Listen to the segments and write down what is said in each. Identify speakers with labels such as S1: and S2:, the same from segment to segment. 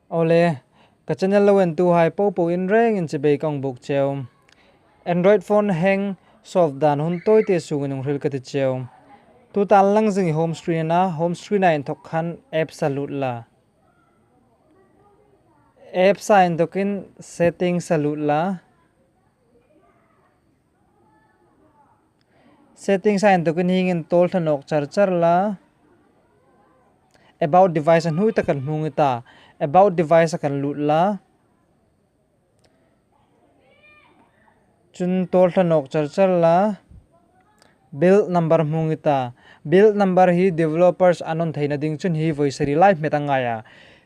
S1: Awle, ka channel lo en tu hai po po in reng in chibei ka awng bawk cheu. Android phone hang solve dan hun tawi te sung in awngril ka ti cheu. Tu tan lang zing i home screen a na, home screen ah inthawk khan apps a lut la. Apps ah inthawk in settings a lut la. Settings a entuk in hing in tawl thlan awk char char la. About device a hnui ta kan hmung i ta. About device a kan luh la. Chun tawl thlan awk char char la. Build number hmung i ta. Build number hi developers an rawn theihna ding chun hi vawisari lai hmet a ngai a.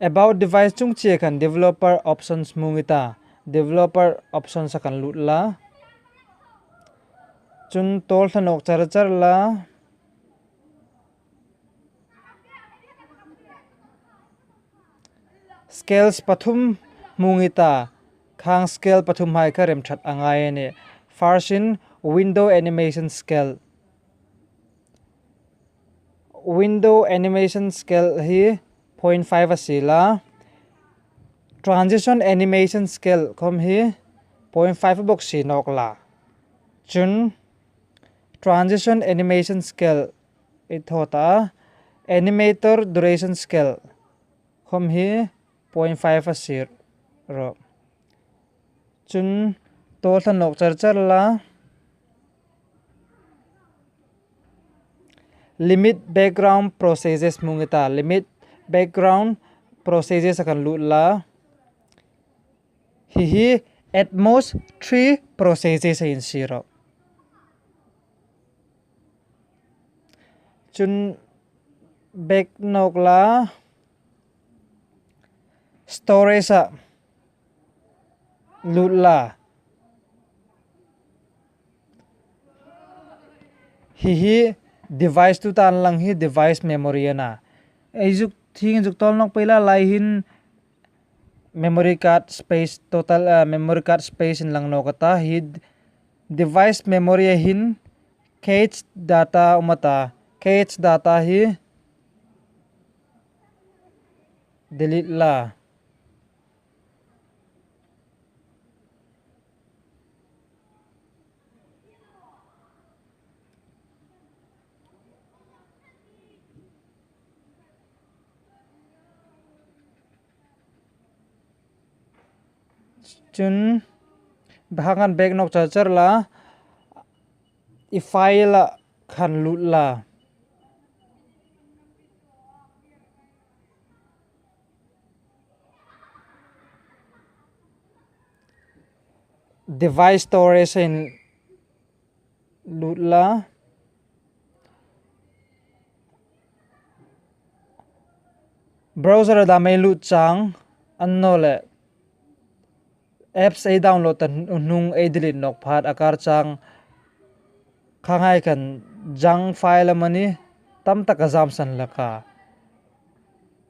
S1: About device chung chiah khan developer options hmung i ta. Developer options a kan luh la. Chun tawl hlanawk char char la. Scales pathum hmung i ta. Khang scale pathum hmai kha remthat a ngai a ni. First in window animation scale. Window animation scale hi point five a si la, transition animation scale khawm hi point five a bawk si nawk la, chun transition animation scale i thawt a, animator duration scale khawm hi point five a si rawh. Chun tawlhla nawh char char la. Limit background processes hmung ita limit background processes a kan luh la hi hi at most three processes a insir rawh chun back nawk la storage ah lut la. Hihi device tu tan lang hi device memory a na. Eizuk thing zuk tawl nawk pawh ila lai hin memory card space total a memory card space in lang nawk ata hi device memory a hin cac data a awm ata cac data hi delete la. chuan bakah khan bag nawk char char la i file ah khan luh la. device storage a in lut la browser a dah mai lut chang unknown leh apps ei download ta hnung ei delete nawk phat a kar chang kha ngai kan junk file a mawni tam tak a zam san hlek a.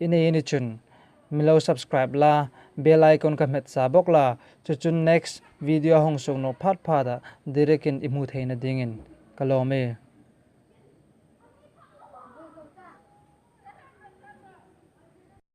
S1: I nei a ni chun. Milo subscribe la, bell icon ka hmet sa bawk la, chu chun next video a hung suk nawh phat phat ah direct in i hmuh theih na ding in ka lawm e.